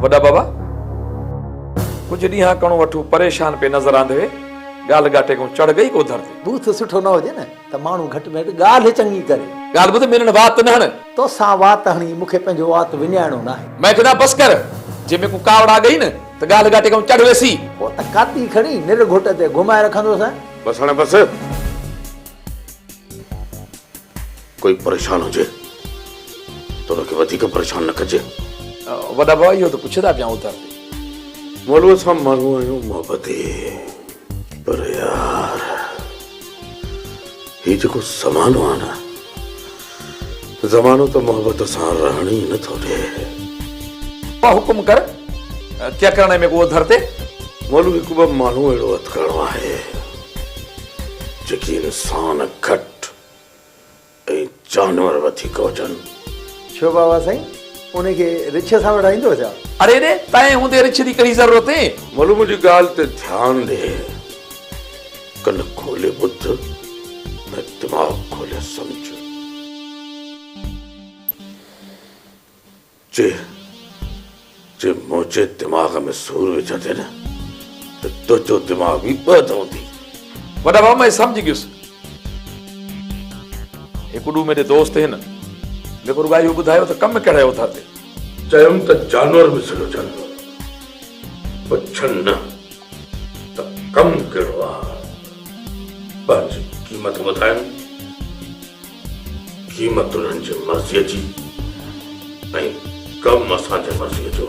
وڏا بابا ڪجهه ڏينهن ڪڻو وٺو پريشان پئي نظر آندي ڳالهه ڳاٽي کان چڙهه گئي گوڌر تي. بوٿ سٺو نه هجي نه ته ماڻهو گهٽ ۾ گهٽ ڳالهه چڱي ڪري. ڳالهه ٻڌ مينھن وات نه هڻ. توسان وات هڻي مون کي پنھنجو وات وڃائڻو ناهي. مئي چيو بس ڪر جي مينکون ڪاوڙ آ گئي نه ته ڳالهه ڳاٽي کان چڙهه ويسي. پوء ته ڪاتي کڻي نر گهٽ تي گهمائي رکندوسين. بس هڻ بس. ڪوئي پريشان هجي ته ان کي وڌيڪ پريشان نه ڪجي. وڏا ڀاء اهو ته پڇي ٿا پيان اوتر تي. مولويء سان ماڻهو آهيون محبتي پر يار هي جيڪو زمانو آهي نه زمانو ته محبت سان رهڻ ئي نه ٿو ڏي. ٻه حڪم ڪر ڪيا ڪرڻي ۾ ڪوء ڌر تي. مولو هڪ ٻه ماڻهو اهڙو هٿ ڪرڻو آهي جيڪي انسان گهٽ ۽ جانور وڌيڪ هجن. ڇو بابا سائين انهي کي رڇ سان وڙهائيندو ڇا. اڙي اڙي تنهن هوندي رڇ جي ڪهڙي ضرورت. مولو منهنجي ڳالهه تي ڌيان ڏي. ڪن کولي ٻڌ ۽ دماغ کولي سمجهه. جي جي منهنجي دماغ ۾ سور وجهندين ته تنهنجو دماغ به ٻه ڌوندي. وڏا ڀاء مان سمجهي گيس. هڪ ڏو ميري دوست هن. ميکو رڳائي اهو ٻڌايو ته ڪم ڪهڙا اٿا تي. چيم ته جانور به سڏو جانور پر ڇن نه ته ڪم ڪهڙو آ پنهنجي قيمت ٻڌائن قيمت انهن جي مرضي جي ۽ ڪم اسان جي مرضي جو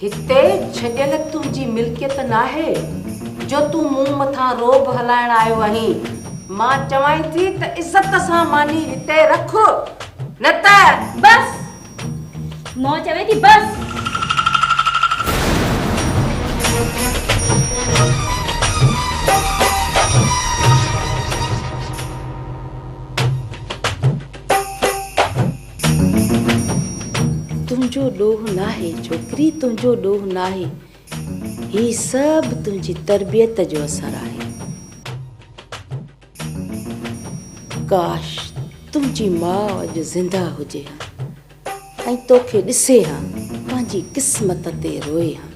هتي ڇڏيل تنهنجي ملڪيت ناهي، جو تون مون مٿان رعب هلائڻ آيو آهين. مان چوانء ٿي ته عزت سان ماني هتي رک، نه ته. بس! مون چوين ٿي بس! تنهنجو ڏوهه ناهي ڇوڪري تنهنجو ڏوهه ناهي هي سڀ تنهنجي تربيت جو اثر آهي ڪاش تنهنجي ماء اڄ زنده هجي ها ۽ توکي ڏسي ها پنهنجي قسمت تي روئي ها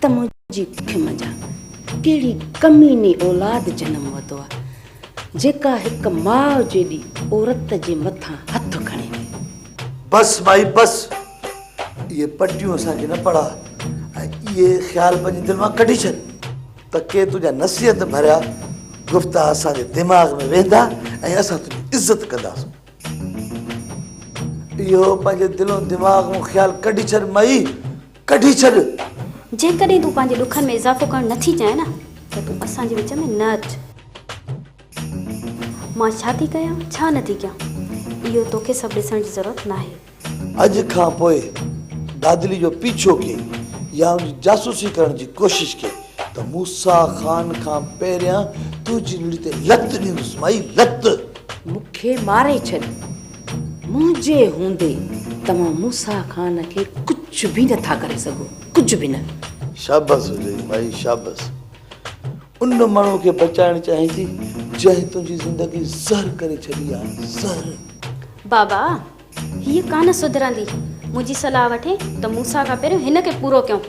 ته منهنجي ڪک منجهان ڪهڙي ڪميني اولاد جنم وتو آهي جيڪا هڪ ماء جيڏي عورت جي مٿان هٿ کڻي وئي. بس مائي بس. اهي پٽيون اسان کي نه پڙهاء ۽ اهي خيال پنهنجي دل مان ڪڍي ڇڏ ته ڪي تنهنجا نصيحت ڀريا گفتا اسان جي دماغ ۾ ويهندا ۽ اسان تنهنجي عزت ڪنداسون. اهو پنهنجي دل و دماغ مون خيال ڪڍي ڇڏ مائي. ڪڍي ڇڏ. جيڪڏهن تون پنهنجي ڏکن ۾ اضافو ڪرڻ نه ٿي چاهين نه ته تون اسان جي وچ ۾ نه اچ. مان ڇا ٿي ڪيان ڇا نه ٿي ڪيان اهو توکي سڀ ڏسڻ جي ضرورت ناهي. اڄ کان پوء دادلي جو پيڇو ڪين يا ان جي جاسوسي ڪرڻ جي ڪوشش ڪين ته موسيٰ خان کان پهريان تنهنجي رڙي تي لت ڏيندس مائي لت. مون کي ماري ڇڏ. منهنجي هوندي توهان موسيٰ خان کي ڪجهه به نه ٿا ڪري سگهو، ڪجهه به نه. شابس هجئي مائي شابس. ان ماڻهو کي بچائڻ چاهين ٿي جنهن تنهنجي زندگي زهر ڪري ڇڏي آهي، زهر. بابا هيء ڪانه سڌرندي. منهنجي صلاح وٺين ته موسيٰ کان پهريون هن کي پورو ڪيون.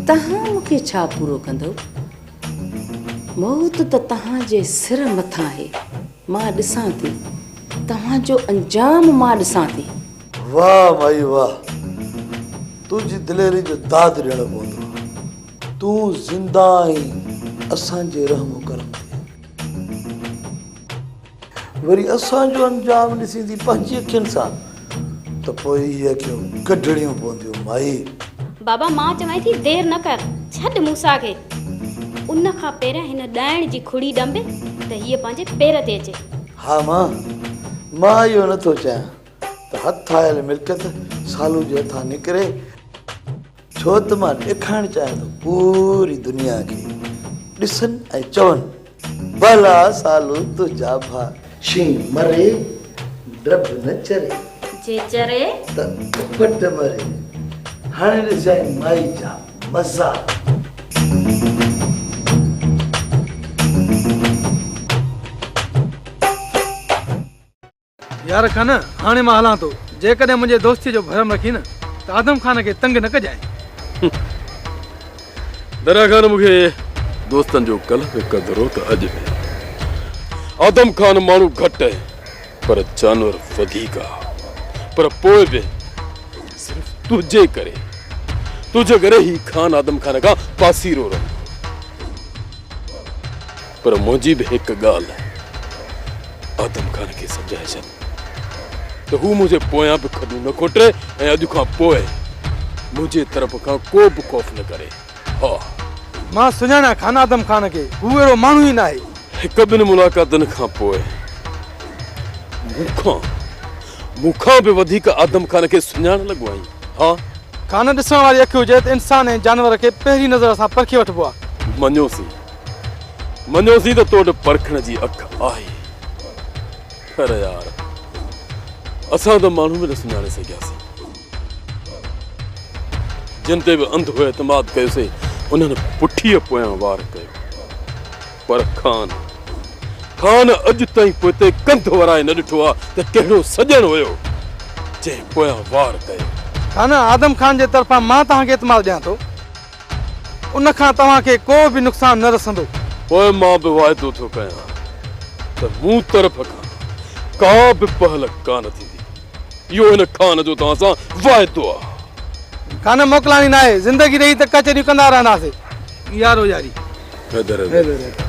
تهان مون کي ڇا پورو ڪندؤ؟ موت ته تهان جي سر مٿان آهي. مان ڏسان ٿي. توهان جو انجام مان ڏسان ٿي. واهه مائي واهه. تنهنجي دليري جو داد ڏيڻو پوندو. تون زنده آهين اسان جي رحم و ڪرم تي. وري اسان جو انجام ڏسيندي پنهنجي اکين سان ته پوء اهي اکيون ڪڍڻيون پونديون مائي. بابا مان چوانء ٿي دير نه ڪر ڇڏ موسيٰ کي ان کان پهريان هن ڏائڻ جي کڙي ڏنبي ته هيء پنهنجي پير تي اچي. ها مان مان اهو نه ٿو چاهيان ته هٿ آيل ملڪيت سالو جي هٿان نڪري. ڇو ته مان ڏيکارڻ چاهيان ٿو پوري دنيا کي ڏسن ۽ چون ڀلا سالو تنهنجا ڀاء شين مري ڊڀ نه چري جي چري ته ڪپٽ مري هاڻي ڏسجانء مائي جا مزا يار خان هاڻي مان هلان ٿو جيڪڏهن منهنجي دوستي جو ڀرم رکين نه ته آدم خان کي تنگ نه ڪجانء. دريا خان مون کي دوستن جو ڪلهه به قدرو ته اڄ به. آدم خان ماڻهو گهٽ پر جانور وڌيڪ آ پر پوء به صرف تنهنجي ڪري تنهنجي ڪري هي خان آدم خان کان پاسيرو رهندو. پر منهنجي به هڪ ڳالهه آدم خان کي سمجهائي ڇڏ ته هو منهنجي پويان به کڏون نه کوٽي ۽ اڄ کان پوء منهنجي طرف کان ڪو به خوف نه ڪري. ها! مان سڃاڻان کان آدم خان کي. هو اهڙو ماڻهو ئي ناهي. هڪ ٻن ملاقاتن کان پوء مون کان مون کان به وڌيڪ آدم خان کي سڃاڻڻ لڳو آهين. ها! کان نه ڏسڻ واري اک هجي ته انسان ۽ جانور کي پهرين نظر سان پرکي وٺبو آهي. مڃيوسين. مڃيوسين ته تو وٽ پرکڻ جي اک آهي پر يار اسان ته ماڻهو به نه سڃاڻي سگهياسين جن تي به انڌو اعتماد ڪيوسي انهن پٺيء پويان وار ڪيو پر خان خان اڄ تائين پوئتي ڪنڌ ورائي نه ڏٺو آ ته ڪهڙو سڄڻ هيو جنهن پويان وار ڪيو. خان آدم خان جي طرفان مان توهان کي اعتماد ڏيان ٿو ان کان توهان کي ڪو به نقصان نه رسندو. پوء مان به وعدو ٿو ڪيان ته مون طرف کان ڪا به پهل ڪانه ٿيندي. اهو هن خان جو توهان سان وعدو آهي. خان موڪلاڻي ناهي. زندگي رهي ته ڪچهريون ڪندا رهنداسين. يارو ياري. حيدر حيدر.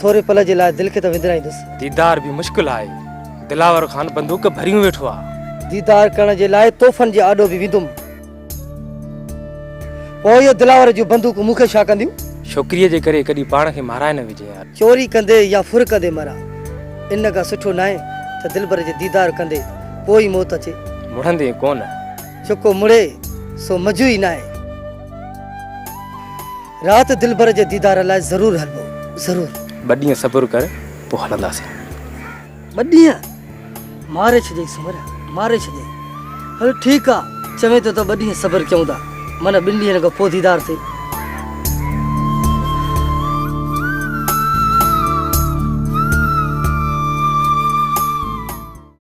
ٿوري پل جي لاء دل کي ته وندرائيندس. ديدار به مشڪل آهي. دلاور خان بندوق ڀريون ويٺو آ. ديدار ڪرڻ جي لاء تحفن جي آڏو به ويندم. پوء اهي دلاور جون بندوقون مون کي ڇا ڪنديون؟ ڇوڪريء جي ڪري ڪڏهن پاڻ کي مارائي نه وجهين ها. چوري ڪندي يا ڦر ڪندي مران. ان کان سٺو ناهي ته دلبر جي ديدار ڪندي پوء ئي موت اچي. مڙندين ڪونه. جيڪو مڙي سو مزو ئي ناهي. رات دلبر جي ديدار لاء ضرور هلبو ضرور. ٻه ڏينهن صبر ڪر پوء هلنداسين. ٻه ڏينهن؟ ماري ڇڏيئي سومريا ماري ڇڏيئي. هل ٺيڪ آ چوين ٿو ته ٻه ڏينهن صبر ڪيون ٿا معنيٰ ٻن ڏينهن کان پوء ديدار ٿئي.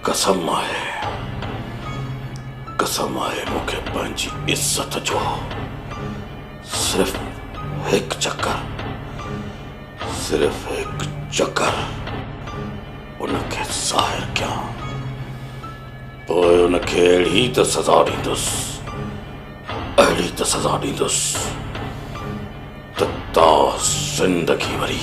قسم آهي قسم آهي مون کي پنهنجي عزت جو صرف هڪ چڪر صرف هڪ چڪر ان کي ظاهر ڪيان پوء ان کي اهڙي ته سزا ڏيندس اهڙي ته سزا ڏيندس ته تا زندگي وري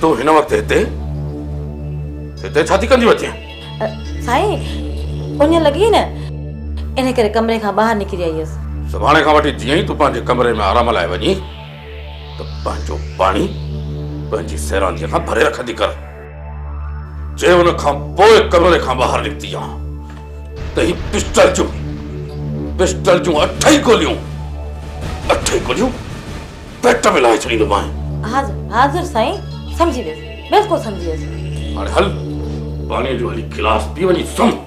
تون هن وقت هتي؟ هتي ڇا ٿي ڪنديون اچين؟ سائين اڃ لڳي نه ان ڪري ڪمري کان ٻاهر نڪري آئي هيس. سڀاڻي کان وٺي جيئن ئي تون پنهنجي ڪمري ۾ آرام لاء وڃين ته پنهنجو پاڻي پنهنجي سيرانديء کان ڀري رکندي ڪر. جي ان کان پوء ڪمري کان ٻاهر نڪتي ها ته هي پسٽل جون پسٽل جون اٺ ئي گوليون اٺ ئي گوليون پيٽ ۾ لاهي ڇڏيندومانء. حاضر حاضر سائين سمجهي ويس بلڪل سمجهي ويس. هاڻي هل پاڻيء جو هلي گلاس پي وڃي سمهه.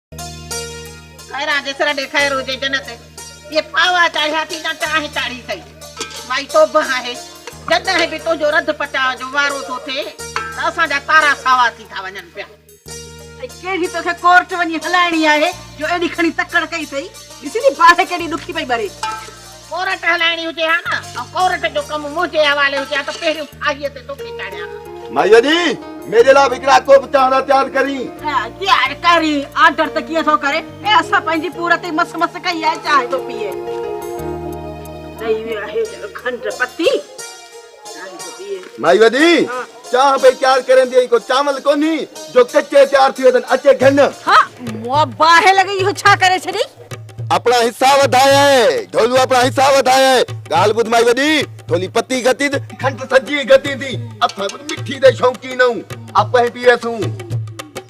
خيران جيسر ڏي خير هجي جنت جي ڦاوا چاڙهيا ٿي جا چاهه چاڙهي ٿئي مائي توبه آهي جڏهن به تنهنجو رڌ پچاء جو وارو ٿو ٿئي ته اسان جا تارا ساوا ٿي ٿا وڃن پيا ۽ ڪهڙي توکي ڪورٽ وڃي هلائڻي آهي جو ايڏي کڻي تڪڙ ڪئي اٿئي ڏسي ٿي باهه ڪيڏي ڏکي پئي ٻري. ڪورٽ هلائڻي هجي ها نه ۽ ڪورٽ جو ڪم منهنجي حوالي هجي ها ته پهريون ڦاهيء تي توکي چاڙهيان ها. مائيء ڙي! ميري لاء به هڪڙا ڪوپ چانهه جا تيار ڪرين. ڪير ڪرين؟ آرڊر ته ڪيئن ٿو ڪري؟ اي اسان پنهنجي پور تي مس مس ڪئي آهي، چانهه ٿو پيئي. ڏئي ويو آهي کنڊ پتي. مائي وڏي، چانھ پئي تيار ڪرين ٿي ۽ ڪو چانول ڪونھي جو ڪچي تيار ٿي وڃن، اچي گھن. ھا، مون باھه لڳي اھو ڇا ڪري ڇڏي؟ اپڻا حصا وڌايئه، ڍولو اپڻا حصا وڌايئه، ڳالھ ٻڌ مائي وڏي، ڍولي پتي گھتي تھ. کنڊ سڄي گھتي ٿي، اسان ڪجھ مٺي جا شوقين آھون، اپھين پيئي ٿيون.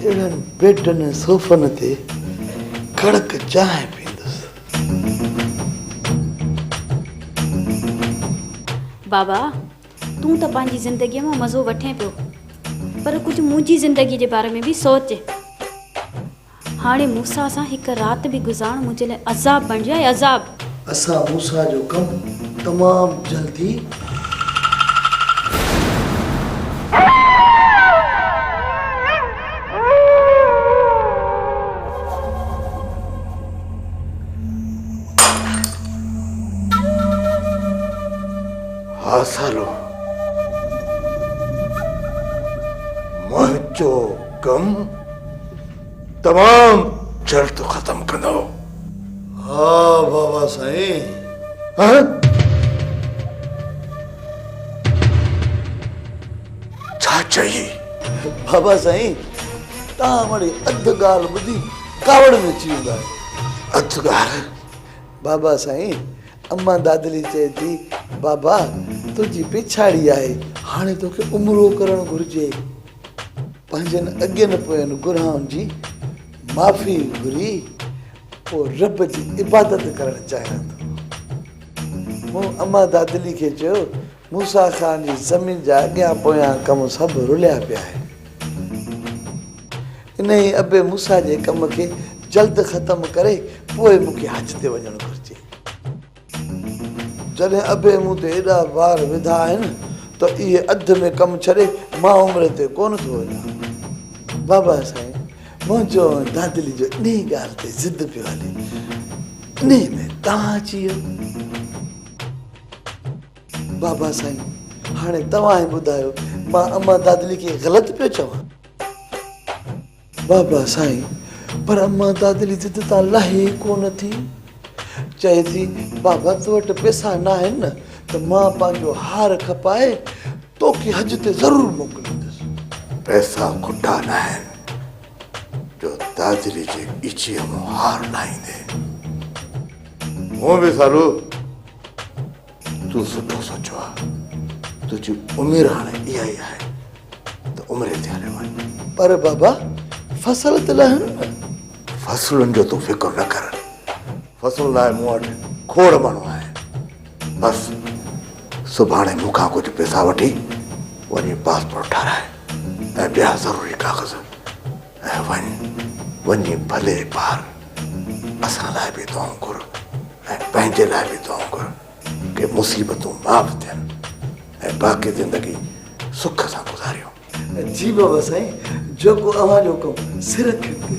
اهڙن بيڊن ۽ صوفن تي ڪڙڪ چانهه پيئندس. بابا، تون ته پنهنجي زندگيء مان مزو وٺين پيو، پر ڪجهه منهنجي زندگيء جي باري ۾ به سوچ. هاڻي موسيٰ سان هڪ رات به گذارڻ منهنجي لاء عذاب بڻجي ها، اي عذاب! اسان موسيٰ جو ڪم تمام جلدي. ڪم تمام جلد ختم ڪندؤ. ها بابا سائين. ها؟ ڇا چئي؟ بابا سائين توهان وڙي اڌ ڳالهه ٻڌي ڪاوڙ ۾ اچي ويندا آهيو. اڌ ڳالهه؟ بابا سائين امان دادلي چئي ٿي بابا تنهنجي پڇاڙي آهي هاڻي توکي عمرو ڪرڻ گهرجي. پنهنجن اڳين پوين گناهن جي معافي گهري پوء رب جي عبادت ڪرڻ چاهيان ٿو. مون اما دادلي کي چيو، موسيٰ خان جي زمين جا اڳيان پويان ڪم سڀ رليا پيا آهن. انهيء ابي موسيٰ جي ڪم کي جلد ختم ڪري پوء مون کي حج تي وڃڻ گهرجي. جڏهن ابي مون تي ايڏا بار وڌا آهن ته اهي اڌ ۾ ڪم ڇڏي مان عمري تي ڪونه ٿو وڃان. بابا سائين منهنجو ۽ دادلي جو انهي ڳالهه تي ضد پيو هلي. انهي ۾ توهان اچي ويو. بابا سائين هاڻي توهان ئي ٻڌايو مان امان دادلي کي غلط پيو چوان؟ بابا سائين پر امان دادلي ضد تان لهي ئي ڪونه ٿي. چئي ٿي بابا تو وٽ پئسا ناهن نه ته مان پنهنجو هار کپائي توکي حج تي ضرور موڪليندس. پئسا کٽا ناهن جو دادلي جي ڳچيء مان هار لاهيندين. هونء به سالو تون سٺو سوچيو آ تنهنجي عمر هاڻي اها ئي آهي ته عمري تي هليو وڃ پر بابا فصل ته لهن فصلن جو تون فڪر نه ڪر فصل لاء مون وٽ کوڙ ماڻهو آهي بس سڀاڻي مون کان ڪجهه پيسا وٺي وڃي پاسپورٽ ٺاراء ۽ ٻيا ضروري ڪاغذ ۽ وڃ، وڃي ڀلي پار، اسان لاء به دعائون گهر ۽ پنهنجي لاء به دعائون گهر ڪي مصيبتون معاف ٿين ۽ باقي زندگي سک سان گذاريون. جي بابا سائين جيڪو اوهان جو حڪم سر کڻتي.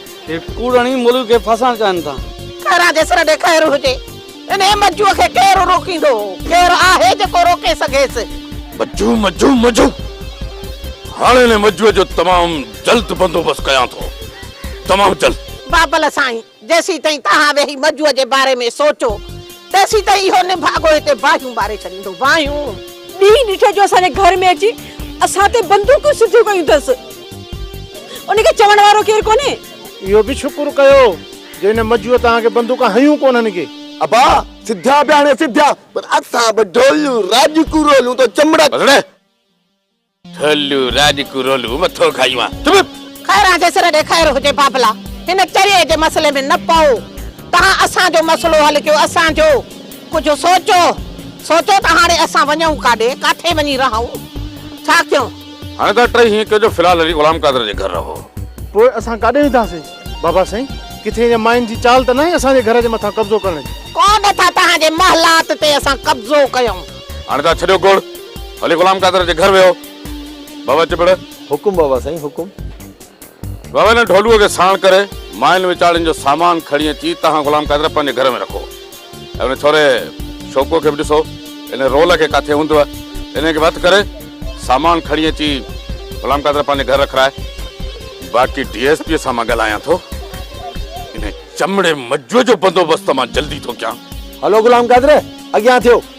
هي ڪوڙڻي ملڪ کي ڦاسائڻ چاهين ٿا. خيران جي سر ڏي خير هجي. انهيء مجوء کي ڪير روڪيندو؟ ڪير آهي جيڪو روڪي سگهيس؟ مجو مجو مجو هاڻي انهيء مجوء جو تمام جلد بندوبست ڪيان ٿو. تمام جلد. بابل سائين، جيسين تائين توهان ويهي مجوء جي باري ۾ سوچو، تيسين تائين اهو نڀاڳو هتي باهيون ٻاري ڇڏيندو. باهيون! ڏينهن ڏٺو جو اسان جي گهر ۾ اچي اسان تي بندوقون سڌيون ڪيون اٿس. ان کي چوڻ وارو ڪير ڪونهي. اهو به شڪر ڪيو جو ان مجوء توهان کي بندوقون هنيون ڪونه هن کي. ابا سڌا به هاڻي سڌا پر اسان به ڍولون راڄڪون رولون تو چمڙا. بس ڙي ڍولون راڄڪون رولون مٿو کائي وان چپ. خيران جي سر ڏي خير هجي بابلا هن چريي جي مسئلي ۾ نه پئو توهان اسان جو مسئلو حل ڪيو اسان جو ڪجهه سوچو سوچو ته هاڻي اسان وڃون ڪاڏي ڪاٿي وڃي رهون ڇا ڪيون. هاڻي ته ٽئي هيئن ڪيو جو في الحال علي غلام قادر جي گهر رهو. پوء اسان ڪاڏي وينداسين؟ بابا سائين، ڪٿي اڃا ماين جي چال ته ناهي اسان جي گهر جي مٿان قبضو ڪرڻ جي؟ ڪوڏ ٿا توهان جي محلات تي اسان قبضو ڪيون. هاڻي ته ڇڏيو گوڙ، علي غلام قادر جي گهر ويهو. بابا چٻڙ. حڪم بابا سائين حڪم. وويلن ڍولوء کي ساڻ ڪري، ماين وچاڙين جو سامان کڻي اچي تهان غلام قادر پنهنجي گهر ۾ رکو. ۽ ان ڇوري شوڪوء کي به ڏسو، ان رول کي ڪاٿي هوندوء، انهيء کي به هٿ ڪري، سامان کڻي اچي غلام قادر پنهنجي گهر رکرائي. باقي ڊي ايس پيء سان مان ڳالهايان ٿو. انهيء چمڙي مجوء جو بندوبست مان جلدي ٿو ڪيان. هلو غلام قادر، اڳيان ٿيو.